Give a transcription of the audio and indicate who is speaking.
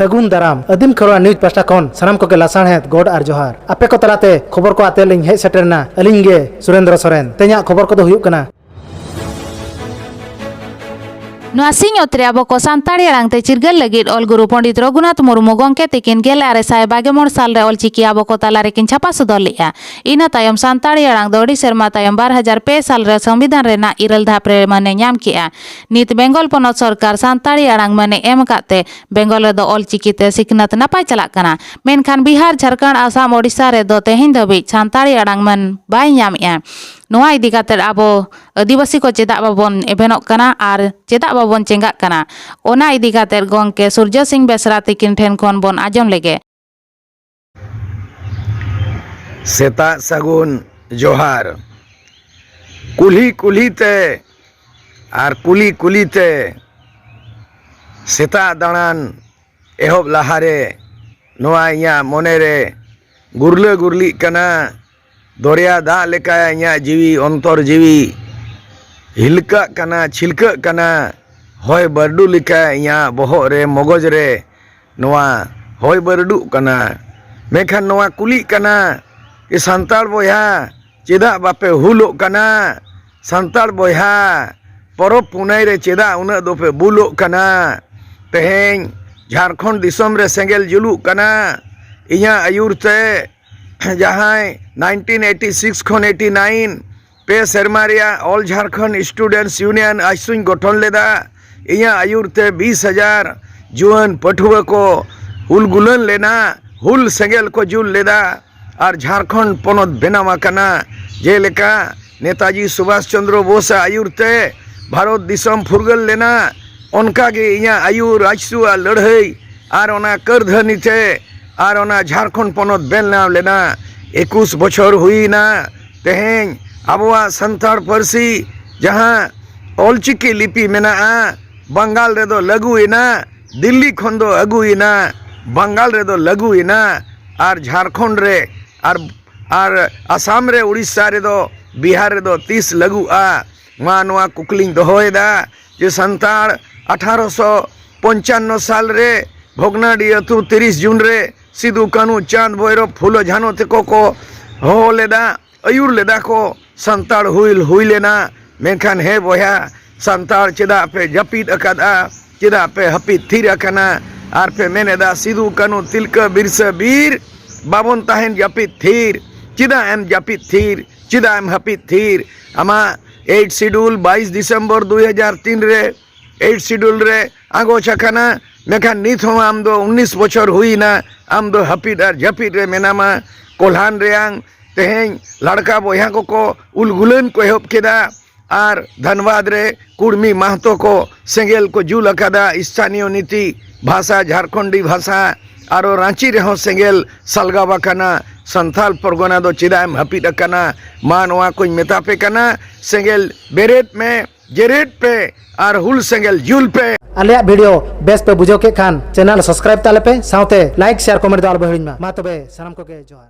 Speaker 1: ᱥᱟᱹᱜᱩᱱ ᱫᱟᱨᱟᱢ ᱟᱹᱫᱤᱢ ᱠᱷᱚᱨᱣᱟ ᱱᱤᱭᱩᱡᱽ ᱯᱟᱥᱴᱟ ᱠᱷᱚᱱ ᱥᱟᱱᱟᱢ ᱠᱚᱜᱮ ᱞᱟᱥᱟᱬᱦᱮᱫ ᱜᱚᱰ ᱟᱨ ᱡᱚᱦᱟᱨ ᱟᱯᱮ ᱠᱚ ᱛᱟᱞᱟᱛᱮ ᱠᱷᱚᱵᱚᱨ ᱠᱚ ᱟᱛᱮ ᱞᱤᱧ ᱦᱮᱡ ᱥᱮᱴᱮᱨᱱᱟ ᱟᱹᱞᱤᱧ ᱜᱮ ᱥᱩᱨᱮᱱᱫᱨᱚ ᱥᱚᱨᱮᱱ ᱛᱮᱦᱮᱧᱟᱜ ᱠᱷᱚᱵᱚᱨ ᱠᱚᱫᱚ ᱦᱩᱭᱩᱜ ᱠᱟᱱᱟ
Speaker 2: ᱱᱚᱣᱟ ᱥᱤᱧ ᱚᱛ ᱨᱮ ᱟᱵᱚ ᱠᱚ ᱥᱟᱱᱛᱟᱲᱤ ᱟᱲᱟᱝ ᱛᱮ ᱪᱤᱨᱜᱟᱹᱞ ᱞᱟᱹᱜᱤᱫ ᱚᱞ ᱜᱩᱨᱩ ᱯᱚᱸᱰᱤᱛ ᱨᱚᱜᱷᱩᱱᱟᱛᱷ ᱢᱩᱨᱢᱩ ᱜᱚᱢᱠᱮ ᱛᱤᱠᱤᱱ ᱜᱮᱞ ᱟᱨᱮ ᱥᱟᱭ ᱵᱟᱜᱮ ᱢᱚᱬ ᱥᱟᱞ ᱨᱮ ᱚᱞᱪᱤᱠᱤ ᱟᱵᱚ ᱠᱚ ᱛᱟᱞᱟ ᱨᱮᱠᱤᱱ ᱪᱷᱟᱯᱟ ᱥᱚᱫᱚᱨ ᱞᱮᱫᱼᱟ ᱤᱱᱟᱹ ᱛᱟᱭᱚᱢ ᱥᱟᱱᱛᱟᱲᱤ ᱟᱲᱟᱝ ᱫᱚ ᱟᱹᱰᱤ ᱥᱮᱨᱢᱟ ᱛᱟᱭᱚᱢ ᱵᱟᱨ ᱦᱟᱡᱟᱨ ᱯᱮ ᱥᱟᱞ ᱨᱮ ᱥᱚᱝᱵᱤᱫᱷᱟᱱ ᱨᱮᱱᱟᱜ ᱤᱨᱟᱹᱞ ᱫᱷᱟᱯ ᱨᱮ ᱢᱟᱹᱱᱮ ᱧᱟᱢ ᱠᱮᱫᱼᱟ ᱱᱤᱛ ᱵᱮᱝᱜᱚᱞ ᱯᱚᱱᱚᱛ ᱥᱚᱨᱠᱟᱨ ᱥᱟᱱᱛᱟᱲᱤ ᱟᱲᱟᱝ ᱢᱟᱹᱱᱮ ᱮᱢ ᱟᱠᱟᱫ ᱛᱮ ᱵᱮᱝᱜᱚᱞ ᱨᱮᱫᱚ ᱚᱞᱪᱤᱠᱤ ᱛᱮ ᱥᱤᱠᱷᱱᱟᱹᱛ ᱱᱟᱯᱟᱭ ᱪᱟᱞᱟᱜ ᱠᱟᱱᱟ ᱢᱮᱱᱠᱷᱟᱱ ᱵᱤᱦᱟᱨ ᱡᱷᱟᱲᱠᱷᱚᱸᱰ ᱟᱥᱟᱢ ᱳᱰᱤᱥᱟ ᱨᱮᱫᱚ ᱛᱮᱦᱮᱧ ᱫᱷᱟᱹᱵᱤᱡ ᱥᱟᱱᱛᱟᱲᱤ ᱟᱲᱟᱝ ᱢᱟᱹᱱ ᱵᱟᱭ ᱧᱟᱢᱮᱫᱼᱟ ᱱᱚᱣᱟ ᱤᱫᱤ ᱠᱟᱛᱮ ᱟᱵᱚ ᱟᱹᱫᱤᱵᱟᱹᱥᱤ ᱠᱚ ᱪᱮᱫᱟᱜ ᱵᱟᱵᱚᱱ ᱮᱵᱷᱮᱱᱚᱜ ᱠᱟᱱᱟ ᱟᱨ ᱪᱮᱫᱟᱜ ᱵᱟᱵᱚᱱ ᱪᱮᱸᱜᱷᱟᱜ ᱠᱟᱱᱟ ᱚᱱᱟ ᱤᱫᱤ ᱠᱟᱛᱮ ᱜᱚᱢᱠᱮ ᱥᱩᱨᱡᱚ ᱥᱤᱝ ᱵᱮᱥᱨᱟ ᱛᱤᱠᱤᱱ ᱴᱷᱮᱱ ᱠᱷᱚᱱ ᱵᱚᱱ ᱟᱸᱡᱚᱢ ᱞᱮᱜᱮ᱾
Speaker 3: ᱥᱮᱛᱟᱜ ᱥᱟᱹᱜᱩᱱ ᱡᱚᱦᱟᱨ᱾ ᱠᱩᱞᱦᱤ ᱠᱩᱞᱦᱤ ᱛᱮ ᱟᱨ ᱠᱩᱞᱤ ᱠᱩᱞᱤ ᱛᱮ ᱥᱮᱛᱟᱜ ᱫᱟᱬᱟᱱ ᱮᱦᱚᱵ ᱞᱟᱦᱟ ᱨᱮ ᱱᱚᱣᱟ ᱤᱧᱟᱹᱜ ᱢᱚᱱᱮ ᱨᱮ ᱜᱩᱨᱞᱟᱹ ᱜᱩᱨᱞᱤᱜ ᱠᱟᱱᱟ᱾ ᱫᱚᱨᱭᱟ ᱫᱟᱜ ᱞᱮᱠᱟ ᱤᱧᱟᱹᱜ ᱡᱤᱣᱤ ᱚᱱᱛᱚᱨ ᱡᱤᱣᱤ ᱦᱤᱞᱠᱟᱹᱜ ᱠᱟᱱᱟ ᱪᱷᱤᱞᱠᱟᱹᱜ ᱠᱟᱱᱟ ᱦᱚᱭ ᱵᱟᱹᱨᱰᱩ ᱞᱮᱠᱟ ᱤᱧᱟᱹᱜ ᱵᱚᱦᱚᱜ ᱨᱮ ᱢᱚᱜᱚᱡᱽ ᱨᱮ ᱱᱚᱣᱟ ᱦᱚᱭ ᱵᱟᱹᱨᱰᱩᱜ ᱠᱟᱱᱟ ᱢᱮᱱᱠᱷᱟᱱ ᱱᱚᱣᱟ ᱠᱩᱞᱤᱜ ᱠᱟᱱᱟ ᱮ ᱥᱟᱱᱛᱟᱲ ᱵᱚᱭᱦᱟ ᱪᱮᱫᱟᱜ ᱵᱟᱯᱮ ᱦᱩᱞᱚᱜ ᱠᱟᱱᱟ ᱥᱟᱱᱛᱟᱲ ᱵᱚᱭᱦᱟ ᱯᱚᱨᱚᱵᱽ ᱯᱩᱱᱟᱹᱭ ᱨᱮ ᱪᱮᱫᱟᱜ ᱩᱱᱟᱹᱜ ᱫᱚᱯᱮ ᱵᱩᱞᱚᱜ ᱠᱟᱱᱟ ᱛᱮᱦᱮᱧ ᱡᱷᱟᱲᱠᱷᱚᱸᱰ ᱫᱤᱥᱚᱢ ᱨᱮ ᱥᱮᱸᱜᱮᱞ ᱡᱩᱞᱩᱜ ᱠᱟᱱᱟ ᱤᱧᱟᱹᱜ ᱟᱹᱭᱩᱨ ᱛᱮ ᱡᱟᱦᱟᱸᱭ ᱱᱟᱭᱤᱱᱴᱤᱱ ᱮᱭᱤᱴᱤ ᱥᱤᱠᱥ ᱠᱷᱚᱱ ᱮᱭᱤᱴᱤ ᱱᱟᱭᱤᱱ ᱯᱮ ᱥᱮᱨᱢᱟ ᱨᱮᱭᱟᱜ ᱚᱞ ᱡᱷᱟᱲᱠᱷᱚᱸᱰ ᱥᱴᱩᱰᱮᱱᱴᱥ ᱤᱭᱩᱱᱤᱭᱚᱱ ᱟᱥᱩᱧ ᱜᱚᱴᱷᱚᱱ ᱞᱮᱫᱟ ᱤᱧᱟᱹᱜ ᱟᱹᱭᱩᱨ ᱛᱮ ᱵᱤᱥ ᱦᱟᱡᱟᱨ ᱡᱩᱣᱟᱹᱱ ᱯᱟᱹᱴᱷᱩᱣᱟᱹ ᱠᱚ ᱦᱩᱞ ᱜᱩᱞᱟᱹᱱ ᱞᱮᱱᱟ ᱦᱩᱞ ᱥᱮᱸᱜᱮᱞ ᱠᱚ ᱡᱩᱞ ᱞᱮᱫᱟ ᱟᱨ ᱡᱷᱟᱲᱠᱷᱚᱸᱰ ᱯᱚᱱᱚᱛ ᱵᱮᱱᱟᱣ ᱟᱠᱟᱱᱟ ᱡᱮᱞᱮᱠᱟ ᱱᱮᱛᱟᱡᱤ ᱥᱩᱵᱷᱟᱥ ᱪᱚᱱᱫᱨᱚ ᱵᱳᱥ ᱟᱜ ᱟᱹᱭᱩᱨ ᱛᱮ ᱵᱷᱟᱨᱚᱛ ᱫᱤᱥᱚᱢ ᱯᱷᱩᱨᱜᱟᱹᱞ ᱞᱮᱱᱟ ᱚᱱᱠᱟ ᱜᱮ ᱤᱧᱟᱹᱜ ᱟᱹᱭᱩᱨ ᱟᱡᱥᱩᱣᱟᱜ ᱞᱟᱹᱲᱦᱟᱹᱭ ᱟᱨ ᱚᱱᱟ ᱠᱟᱹᱨᱫᱷᱟᱹᱱᱤ ᱛᱮ ᱟᱨ ᱚᱱᱟ ᱡᱷᱟᱨᱠᱷᱚᱸᱰ ᱯᱚᱱᱚᱛ ᱵᱮᱱᱟᱣ ᱞᱮᱱᱟ ᱮᱠᱩᱥ ᱵᱚᱪᱷᱚᱨ ᱦᱩᱭᱮᱱᱟ ᱛᱮᱦᱮᱧ ᱟᱵᱚᱣᱟᱜ ᱥᱟᱱᱛᱟᱲ ᱯᱟᱹᱨᱥᱤ ᱡᱟᱦᱟᱸ ᱚᱞᱪᱤᱠᱤ ᱞᱤᱯᱤ ᱢᱮᱱᱟᱜᱼᱟ ᱵᱟᱝᱜᱟᱞ ᱨᱮᱫᱚ ᱞᱟᱹᱜᱩᱭᱮᱱᱟ ᱫᱤᱞᱞᱤ ᱠᱷᱚᱱ ᱫᱚ ᱟᱹᱜᱩᱭᱮᱱᱟ ᱵᱟᱝᱜᱟᱞ ᱨᱮᱫᱚ ᱞᱟᱹᱜᱩᱭᱮᱱᱟ ᱟᱨ ᱡᱷᱟᱨᱠᱷᱚᱸᱰ ᱨᱮ ᱟᱨ ᱟᱨ ᱟᱥᱟᱢ ᱨᱮ ᱩᱲᱤᱥᱥᱟ ᱨᱮᱫᱚ ᱵᱤᱦᱟᱨ ᱨᱮᱫᱚ ᱛᱤᱥ ᱞᱟᱹᱜᱩᱜᱼᱟ ᱢᱟ ᱱᱚᱣᱟ ᱠᱩᱠᱞᱤᱧ ᱫᱚᱦᱚᱭᱮᱫᱟ ᱡᱮ ᱥᱟᱱᱛᱟᱲ ᱟᱴᱷᱟᱨᱚᱥᱚ ᱯᱚᱧᱪᱟᱱᱱᱚ ᱥᱟᱞ ᱨᱮ ᱵᱷᱚᱜᱽᱱᱟᱰᱤ ᱟᱹᱛᱩ ᱛᱤᱨᱤᱥ ᱡᱩᱱ ᱨᱮ ᱥᱤᱫᱩ ᱠᱟᱹᱱᱩ ᱪᱟᱸᱫᱽ ᱵᱷᱳᱭᱨᱚᱵᱽ ᱯᱷᱩᱞᱚ ᱡᱷᱟᱱᱚ ᱛᱮᱠᱚ ᱠᱚ ᱦᱚᱦᱚ ᱞᱮᱫᱟ ᱟᱹᱭᱩᱨ ᱞᱮᱫᱟ ᱠᱚ ᱥᱟᱱᱛᱟᱲ ᱦᱩᱞ ᱦᱩᱭ ᱞᱮᱱᱟ ᱢᱮᱱᱠᱷᱟᱱ ᱦᱮᱸ ᱵᱚᱭᱦᱟ ᱥᱟᱱᱛᱟᱲ ᱪᱮᱫᱟᱜ ᱯᱮ ᱡᱟᱹᱯᱤᱫ ᱟᱠᱟᱫᱼᱟ ᱪᱮᱫᱟᱜ ᱯᱮ ᱦᱟᱹᱯᱤᱫ ᱛᱷᱤᱨ ᱟᱠᱟᱱᱟ ᱟᱨ ᱯᱮ ᱢᱮᱱ ᱮᱫᱟ ᱥᱤᱫᱩ ᱠᱟᱹᱱᱩ ᱛᱤᱞᱠᱟᱹ ᱵᱤᱨᱥᱟᱹ ᱵᱤᱨ ᱵᱟᱵᱚᱱ ᱛᱟᱦᱮᱱ ᱡᱟᱹᱯᱤᱫ ᱛᱷᱤᱨ ᱪᱮᱫᱟᱜ ᱮᱢ ᱡᱟᱹᱯᱤᱫ ᱛᱷᱤᱨ ᱪᱮᱫᱟᱜ ᱮᱢ ᱦᱟᱹᱯᱤᱫ ᱛᱷᱤᱨ ᱟᱢᱟᱜ ᱮᱭᱤᱴ ᱥᱤᱰᱩᱞ ᱵᱟᱭᱤᱥ ᱰᱤᱥᱮᱢᱵᱚᱨ ᱫᱩᱭ ᱦᱟᱡᱟᱨ ᱛᱤᱱ ᱨᱮ ᱮᱭᱤᱴ ᱥᱤᱰᱩᱞ ᱨᱮ ᱟᱸᱜᱚᱪ ᱟᱠᱟᱱᱟ ᱢᱮᱱᱠᱷᱟᱱ ᱱᱤᱛ ᱦᱚᱸ ᱟᱢ ᱫᱚ ᱩᱱᱤᱥ ᱵᱚᱪᱷᱚᱨ ᱦᱩᱭᱮᱱᱟ ᱟᱢ ᱫᱚ ᱦᱟᱹᱯᱤᱫ ᱟᱨ ᱡᱟᱹᱯᱤᱫ ᱨᱮ ᱢᱮᱱᱟᱢᱟ ᱠᱚᱞᱦᱟᱱ ᱨᱮᱭᱟᱝ ᱛᱮᱦᱮᱧ ᱞᱟᱲᱠᱟ ᱵᱚᱭᱦᱟ ᱠᱚᱠᱚ ᱩᱞ ᱜᱩᱞᱟᱹᱱ ᱠᱚ ᱮᱦᱚᱵ ᱠᱮᱫᱟ ᱟᱨ ᱫᱷᱟᱱᱵᱟᱫᱽ ᱨᱮ ᱠᱩᱲᱢᱤ ᱢᱟᱦᱛᱚ ᱠᱚ ᱥᱮᱸᱜᱮᱞ ᱠᱚ ᱡᱩᱞ ᱟᱠᱟᱫᱟ ᱥᱛᱷᱟᱱᱤᱭᱚ ᱱᱤᱛᱤ ᱵᱷᱟᱥᱟ ᱡᱷᱟᱨᱠᱷᱚᱸᱰᱤ ᱵᱷᱟᱥᱟ ᱟᱨᱚ ᱨᱟᱺᱪᱤ ᱨᱮᱦᱚᱸ ᱥᱮᱸᱜᱮᱞ ᱥᱟᱞᱜᱟᱣ ᱟᱠᱟᱱᱟ ᱥᱟᱱᱛᱷᱟᱞ ᱯᱚᱨᱜᱚᱱᱟ ᱫᱚ ᱪᱮᱫᱟᱜ ᱮᱢ ᱦᱟᱹᱯᱤᱫ ᱟᱠᱟᱱᱟ ᱢᱟ ᱱᱚᱣᱟ ᱠᱚᱧ ᱢᱮᱛᱟ ᱯᱮ ᱠᱟᱱᱟ ᱥᱮᱸᱜᱮᱞ ᱵᱮᱨᱮᱫ ᱢᱮ ᱡᱮᱨᱮᱫ ᱯᱮ ᱟᱨ ᱦᱩᱞ ᱥᱮᱸᱜᱮᱞ ᱡᱩᱞ ᱯᱮ ᱟᱞᱮᱭᱟᱜ ᱵᱷᱤᱰᱤᱭᱳ
Speaker 1: ᱵᱮᱥ ᱯᱮ ᱵᱩᱡᱷᱟᱹᱣ ᱠᱮᱫ ᱠᱷᱟᱱ ᱪᱮᱱᱮᱞ ᱥᱟᱵᱥᱠᱨᱟᱭᱤᱵ ᱛᱟᱞᱮ ᱯᱮ ᱥᱟᱶᱛᱮ ᱞᱟᱭᱤᱠ ᱥᱮᱭᱟᱨ ᱠᱚᱢᱮᱱᱴ ᱫᱚ ᱟᱞᱚ ᱯᱮ ᱦᱤᱲᱤᱧ ᱢᱟ ᱢᱟ ᱛᱚᱵᱮ ᱥᱟᱱᱟᱢ ᱠᱚᱜᱮ ᱡᱚᱦᱟᱨ